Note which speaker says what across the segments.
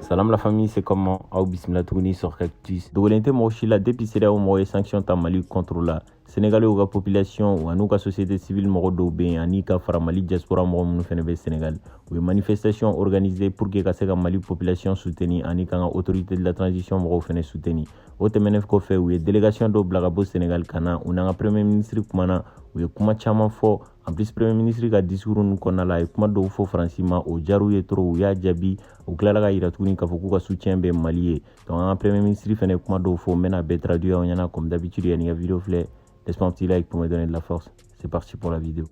Speaker 1: Salam la famille, c'est comment Aw bisimila tuguni sur Cactus. Dogolen tɛ mɔgɔ si la depuis CEDEAO mɔgɔ ye sanction ta Mali contre la. Sénégalais ka population an'u ka société civile mɔgɔ dɔw bɛ yen ani ka fara Mali diaspora mɔgɔ minnu fana bɛ Sénégal. U ye manifestation organisée pour que ka se ka Mali population soutenir ani k'an ka autorité de la transition mɔgɔw fana soutenir. o tɛmɛnen kɔfɛ u ye delegation dɔw bila ka bɔ senegal ka na u n'an ka premier ministre kumana u ye kuma caman fɔ en plus premier ministre ka discours ninnu kɔnɔna la a ye kuma dɔw fɔ faransi ma o diyar'u ye trop u y'a jaabi u tilala k'a yira tuguni k'a fɔ k'u ka soutien bɛ mali ye donc an ka premier ministre fana ye kuma dɔw fɔ n bɛn'a bɛɛ traduire aw ɲɛna comme d'habitude yanni ka video filɛ laisse-moi un petit like pour me donner de la force c'est parti pour la vidéo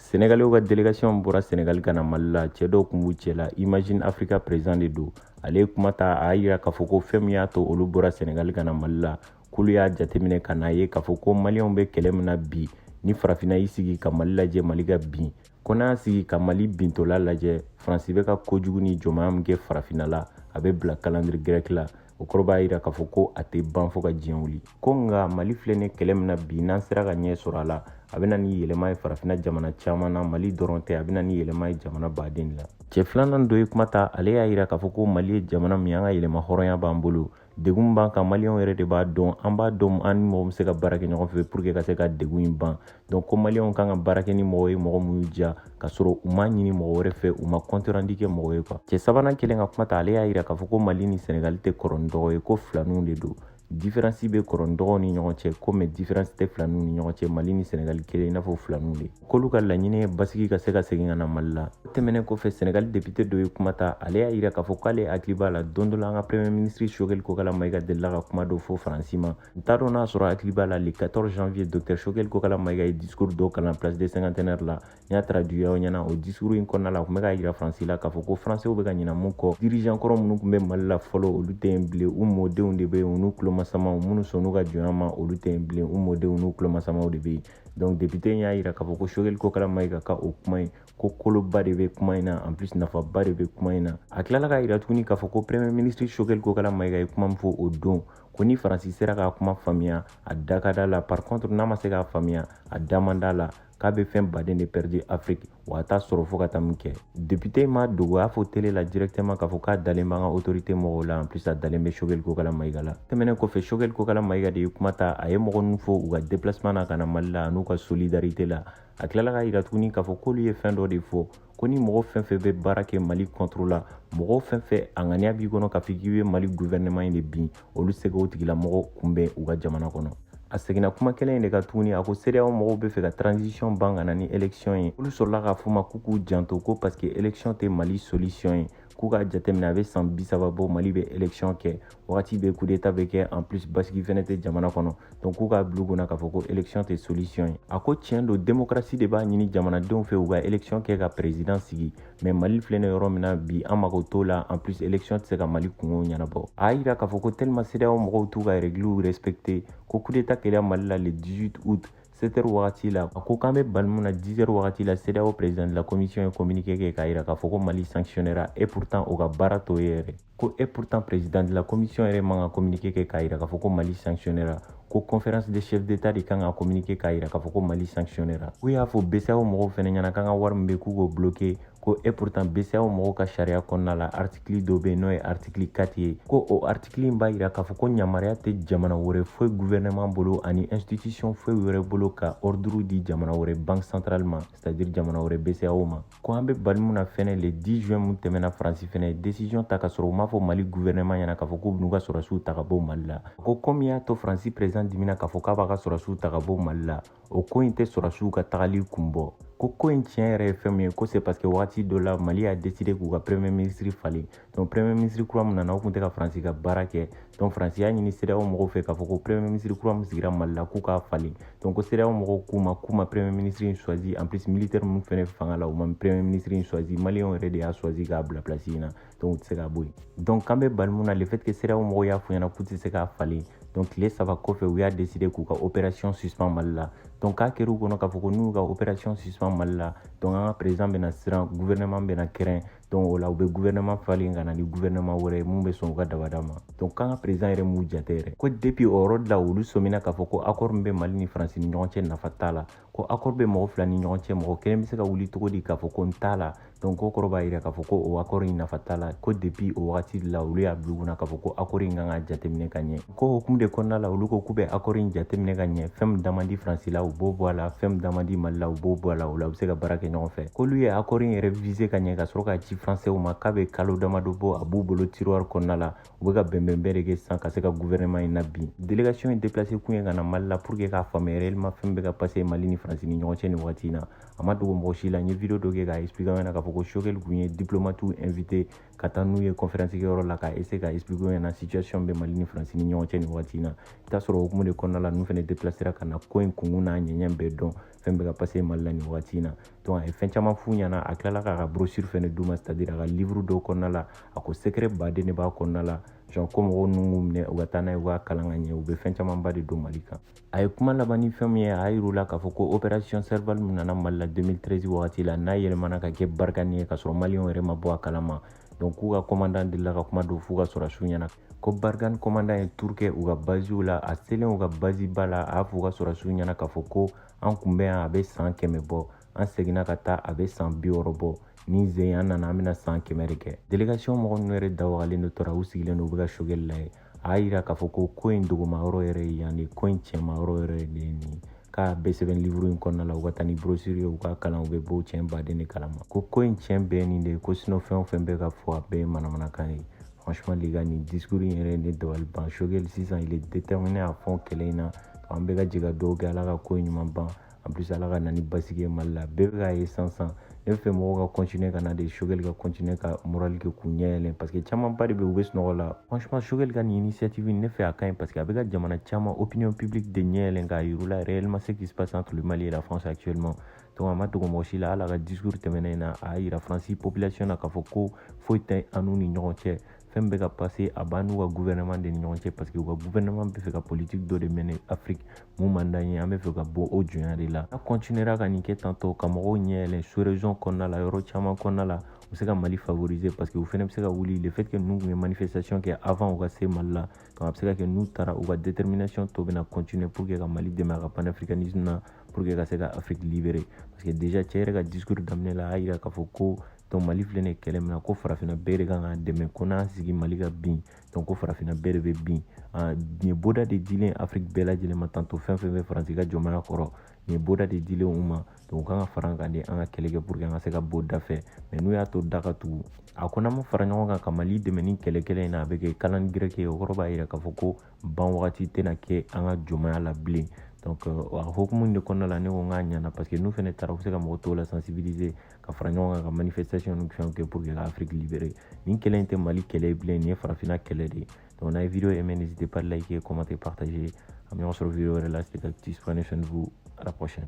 Speaker 1: Sɛnɛgaliw ka delegasiyɔn bɔra sɛnɛgali ka na mali la cɛ dɔw tun b'u cɛ la Imagine Africa président de don ale ye kuma ta a y'a yira k'a fɔ ko fɛn min y'a to olu bɔra sɛnɛgali ka na mali la k'olu y'a jateminɛ ka n'a ye k'a fɔ ko maliyɛnw bɛ kɛlɛ min na bi ni farafinna y'i sigi ka mali lajɛ mali ka bin ko n'a y'a sigi ka mali bintɔla lajɛ faransi bɛ ka kojugu ni jɔnmaya min kɛ farafinna la a bɛ bila calendrier grec la o kɔrɔ b'a yira k'a fɔ ko a tɛ ban fo ka diɲɛ wuli ko nka mali filɛ ni kɛlɛ min na bi n'an sera ka ɲɛ sɔrɔ a la a bɛ na ni yɛlɛma ye farafinna jamana caman na mali dɔrɔn tɛ a bɛ na ni yɛlɛma ye jamana baden la cɛ filanan dɔ ye kuma ta ale y'a yira k'a fɔ ko mali ye jamana min an ka yɛrɛmahɔrɔnya b'an bolo degun b'an kan maliyɛnw yɛrɛ de b'a dɔn an b'a dɔn an ni mɔgɔ min bɛ se ka baara kɛ ɲɔgɔn fɛ pour que ka se ka degun in ban donc ko maliyɛnw kan ka baara kɛ ni mɔgɔ ye mɔgɔ min y'u diya ka sɔrɔ u m'a ɲini mɔgɔ wɛrɛ fɛ u ma compte rendu kɛ mɔgɔ ye quoi cɛ sabanan kɛlen ka kuma ta ale y'a yira k'a fɔ ko mali ni sɛnɛgali tɛ kɔrɔ ni dɔgɔ ye ko filaninw de don différence bɛ kɔrɔ ni dɔgɔw ni ɲɔgɔn cɛ ko mais différence tɛ filaninw ni ɲɔgɔn cɛ mali ni sɛnɛgali kɛlen i n'a fɔ filaninw de k'olu ka laɲini ye basigi ka se ka segin ka na mali la o tɛmɛnen kɔfɛ senegali député dɔ ye kuma ta ale y'a yira k'a fɔ k'ale hakili b'a la don dɔ la an ka premier ministre Choguel Kokalla Maïga delila ka kuma dɔ fɔ faransi ma n t'a dɔn n'a sɔrɔ hakili b'a la le 14 janvier docteur Choguel Kokalla Maïga ye discours dɔ kalan place de cinquantenaire la n y'a traduire aw ɲɛna o discours in kɔnɔna la a tun bɛ k'a yira faransi la k'a fɔ ko faransɛw bɛ ka ɲina mun kɔ dirigeant kɔrɔ minnu tun bɛ mali la fɔlɔ olu tɛ yen bilen u mɔdenw de bɛ yen u n'u tulomasamaw minnu sɔnn'u ka jɔnya ma olu tɛ yen bilen u mɔdenw n'u tulomasamaw de bɛ yen donc député y'a yira k'a fɔ ko Choguel Kokalla Maïga ka o kuma in ko koloba de bɛ kuma in na en plus nafaba de bɛ kuma in na a tilala k'a yira tuguni k'a fɔ ko premier ministre Choguel Kokalla Maïga ye kuma min fɔ o don ko ni faransi sera k'a kuma faamuya a da ka d'a la par contre n'a ma se k'a faamuya a da man d'a la k'a bɛ fɛn baden de pɛridi afiriki wa a t'a sɔrɔ fo ka taa min kɛ depite in m'a dogo a fɔ tele la directement k'a fɔ k'a dalen b'an ka autorité mɔgɔw la en plus a dalen bɛ shogɛli kokala mayiga la tɛmɛnen kɔfɛ shogɛli kokala mayiga de ye kuma ta a ye mɔgɔ ninnu fo u ka déplacement na ka na mali la an'u ka solidarité la a tilala k'a yira tuguni k'a fɔ k'olu ye fɛn dɔ de fɔ ko ni mɔgɔ fɛn fɛn bɛ baara kɛ mali contre la mɔgɔ fɛn fɛn a ŋaniya b'i kɔnɔ k'a fɔ k'i bɛ mali gouvernement in de bin olu tɛ se k'o tigilamɔgɔ kunbɛn u ka jamana kɔnɔ a seginna kuma kelen in de kan tuguni a ko sedeyaw mɔgɔw b'a fɛ ka transition ban ka na ni election ye olu sɔrɔla k'a f'u ma k'u k'u janto ko parce que election tɛ mali solution ye k'u k'a jateminɛ a bɛ san bi saba bɔ mali bɛ election kɛ wagati bɛɛ coup d'état bɛ kɛ en plus basigi fɛnɛ tɛ jamana kɔnɔ donc k'u k'a bil'u kunna k'a fɔ ko election tɛ solution ye a ko tiɲɛ don démocratie de b'a ɲini jamanadenw fɛ u ka election kɛ ka président sigi mais mali filɛ nin yɔrɔ min na bi an mago t'o la en plus élection tɛ se ka mali kunko ɲɛnabɔ a y'a yira k'a fɔ ko tellement sedeyaw mɔgɔw t'u ka règlew respecte ko coup d'état kɛra mali la le 18 août 7 heures wagati la a ko k'an bɛ bali mun na 10 heures wagati la sedeyaw président de la commission ye communiqué kɛ k'a yira k'a fɔ ko mali sanctionnera et pourtant o ka baara t'o ye yɛrɛ ko et pourtant président de la commission yɛrɛ man ka communiqué kɛ k'a yira k'a fɔ ko mali sanctionnera ko conférence des chefs d'état de kan ka communiqué k'a yira k'a fɔ ko mali sanctionnera k'u y'a fɔ bceao mɔgɔw fɛnɛ ɲɛna k'an ka wari min bɛ yen k'u k'o bloqué ko et pourtant bceao mɔgɔw ka sariya kɔnɔna la artikili dɔ bɛ yen n'o ye artikili 4 ye ko o artikili in b'a yira k'a fɔ ko ɲamariya tɛ jamana wɛrɛ foyi guvɛrɛnɛman bolo ani institution foyi wɛrɛ bolo ka ɔrduru di jamana wɛrɛ banque centrale ma c'est à dire jamana wɛrɛ bceao ma ko an bɛ bali min na fɛnɛ le 10 juin mun tɛmɛna faransi fɛnɛ ye decision ta ka sɔrɔ u m'a fɔ mali guvɛrɛnɛman ɲɛna k'a fɔ k'u b'u ka sɔrɔsiw ta ka bɔ mali la ko ko min y'a to faransi perezidan dimina k'a fɔ k'a b'a ka sɔrɔsiw ta ka bɔ mali la o ko in tɛ sɔrɔsiw ka tagali kun bɔ ko ko in tiɲɛ yɛrɛ ye fɛn min ye ko c'est parce que wagati dɔ la mali y'a deside k'u ka premier ministre falen donc premier ministre kura min nana o tun tɛ ka faransi ka baara kɛ donc faransi y'a ɲini sedeyawo mɔgɔw fɛ k'a fɔ ko premier ministre kura min sigira mali la k'u k'a falen donc ko sedeyawo mɔgɔw k'u ma k'u ma premier ministre in choisi en plus militaire minnu fɛnɛ fanga la u ma premier ministre in choisi maliyɛnw yɛrɛ de y'a choisi k'a bila place in na donc u tɛ se k'a bɔ yen donc k'an bɛ bali mun na le fait que sedeyawo mɔgɔw y'a f'u ɲɛna k'u tɛ se k'a falen donc tile saba kɔfɛ u y'a décider k'u ka opération suspend mali la donc k'a kɛr'u kɔnɔ k'a fɔ ko n'u ka opération suspend mali la donc an ka président bɛna siran gouvernement bɛna kɛrɛn donc o la u bɛ gouvernement falen ka na ni gouvernement wɛrɛ ye mun bɛ sɔn u ka dabada ma donc k'an ka président yɛrɛ m'u jate yɛrɛ ko depuis o yɔrɔ de la olu sɔmina k'a fɔ ko accord min bɛ mali ni faransi ni ɲɔgɔn cɛ nafa t'a la ko accord bɛ mɔgɔ fila ni ɲɔgɔn cɛ mɔgɔ kelen bɛ se ka wuli cogo di k'a fɔ ko n t'a la donc k'o kɔrɔ b'a yira k'a fɔ ko o accord in nafa t'a la ko depuis o wagati de la olu y'a bila u kunna k'a fɔ ko accord in kan ka jateminɛ ka ɲɛ ko hukumu de kɔnɔna la olu ko k'u bɛ akɔri in jateminɛ ka ɲɛ fɛn min da man di faransi la u b'o bɔ a la fɛn min da man di mali la u b'o bɔ a la o la u bɛ se ka baara kɛ ɲɔgɔn fɛ k'olu ye akɔri in yɛrɛ viser ka ɲɛ ka sɔrɔ k'a ci faransɛw ma k'a bɛ kalo damadɔ bɔ a b'u bolo tiroir kɔnɔna la u bɛ ka bɛnbɛnbɛn de kɛ sisan ka se ka guvɛrɛnɛman in na bin délégation in déplacé kun ye ka na mali la pour que k'a faamuya réellement fɛn bɛ ka passer mali ni faransi ni ɲɔgɔn cɛ nin wagati in na a ma dogo mɔgɔ si la n ye video dɔ kɛ k'a expliquer an ɲɛna k'a fɔ ko Choguel kun ye diplomatiw invité ka taa n'u ye conférence kɛyɔrɔ la ka essayer ka expliquer u ɲɛna situation bɛ Mali ni France ni ɲɔgɔn cɛ nin waati in na i t'a sɔrɔ o hukumu de kɔnɔna la ninnu fɛnɛ déplacera ka na ko in kunkun n'a ɲɛɲɛ bɛɛ dɔn fɛn bɛ ka passer Mali la nin waati in na donc a ye fɛn caman f'u ɲɛna a tilala k'a ka brochure fɛnɛ d'u ma c'est à dire a ka livre dɔw kɔnɔna la a ko secret baden de b'a kɔnɔna la genre ko mɔgɔw ninnu k'u minɛ u ka taa n'a ye u k'a kalan ka ɲɛ u bɛ fɛn camanba de don Mali kan a ye kuma laban ni fɛn min ye a y'a yir'u la k'a fɔ ko opération Serval min nana mali la 2013 wagati la n'a yɛlɛmana ka kɛ Barkhane ye k'a sɔrɔ maliyɛnw yɛrɛ ma bɔ a kalama donc k'u ka kɔmandan delila ka kuma dɔ f'u ka sɔrɔsiw ɲɛna ko Barkhane kɔmandan ye tour kɛ u ka baziw la a selen u ka bazi ba la a y'a fɔ u ka sɔrɔsiw ɲɛna k'a fɔ ko an kun bɛ yan a bɛ san kɛmɛ bɔ an seginna ka taa a bɛ san biwɔɔrɔ bɔ nin sen an nana an bɛna san kɛmɛ de kɛ délégation mɔgɔ ninnu yɛrɛ da wagalen de tora u sigilen don u bɛ ka Choguel lajɛ a y'a yira k'a fɔ ko ko in dogoma yɔrɔ yɛrɛ ye yan de ko in cɛma yɔrɔ yɛrɛ de ye nin k'a bɛɛ sɛbɛn livre in kɔnɔna la u ka taa ni brochure ye u k'a kalan u bɛ bɔ cɛn baden de kalama ko ko in cɛn bɛɛ nin de ye ko sinon fɛn o fɛn bɛ ka fɔ a bɛɛ ye manamanakan ye franchement les gars nin discours in yɛrɛ ne dabali ban Choguel sisan il est déterminé à fond kɛlɛ in na an bɛɛ ka jɛ ka dugawu kɛ ala ka ko in ɲuman ban en plus ala ka na ni basigi ye mali la bɛɛ bɛ k'a ye sisan ne bɛ fɛ mɔgɔw ka continuer ka na de Choguel ka continuer ka moral kɛ k'u ɲɛ yɛlɛn parce que camanba de bɛ u bɛ sunɔgɔ la franchement Choguel ka nin initiative ne fɛ a ka ɲi parce que a bɛ ka jamana caman opinion publique de ɲɛ yɛlɛn k'a yir'u la réellement ce qui se passe entre le mali et la france actuellement donc a ma dogo mɔgɔ si la hali a ka discours tɛmɛnen in na a y'a yira faransi population na k'a fɔ ko foyi tɛ an n'u ni ɲɔgɔn cɛ fɛn bɛ ka passer a b'an n'u ka gouvernement de ni ɲɔgɔn cɛ parce que u ka gouvernement bɛ fɛ ka politique dɔ de mener Afrique mun man d'an ye an bɛ fɛ ka bɔ o jonya de la n'a continuera ka nin kɛ tantôt ka mɔgɔw ɲɛ yɛlɛ sous région kɔnɔna la yɔrɔ caman kɔnɔna la u bɛ se ka Mali favoriser parce que u fɛnɛ bɛ se ka wuli le fait que ninnu tun ye manifestation kɛ avant u ka se Mali la donc a bɛ se ka kɛ n'u taara u ka détermination tɔ bɛna continuer pour que ka Mali dɛmɛ a ka panafricanisme na pour que ka se ka Afrique libérer parce que déjà cɛ yɛrɛ ka discours daminɛ la a y'a jira k'a fɔ ko donc mali filɛ nin kɛlɛ min na ko farafinna bɛɛ de kan ka dɛmɛ ko n'an sigi mali ka bin donc ko farafinna bɛɛ de bɛ bin nin ye bɔda de dilen afiriki bɛɛ lajɛlen ma tantôt fɛn fɛn bɛ faransi ka jɔnmaya kɔrɔ nin ye bɔda de dilen u ma donc u kan ka fara an kan de an ka kɛlɛ kɛ pour que an ka se ka bɔ da fɛ mais n'u y'a to da ka tugu a ko n'an ma fara ɲɔgɔn kan ka mali dɛmɛ nin kɛlɛ kɛlɛ in na a bɛ kɛ kalan gɛrɛke ye o kɔrɔ b'a yira k'a fɔ ko ban wagati tɛna kɛ an ka jɔnmaya la bilen donc a hokumu de kɔnɔna la ne ko n k'a ɲana parce que n'u fɛnɛ taara u bɛ se ka mɔgɔ tɔw la sensibiliser ka fara ɲɔgɔn kan ka manifestation ni fɛnw kɛ pour que ka afrique libérer nin kɛlɛ in tɛ mali kɛlɛ ye bilen nin ye farafinna kɛlɛ de ye donc n'a ye vidéo aimé n'hésitez pas à liker commenter partager an bɛ ɲɔgɔn sɔrɔ vidéo wɛrɛ la c'était cactus prenez soin de vous à la prochaine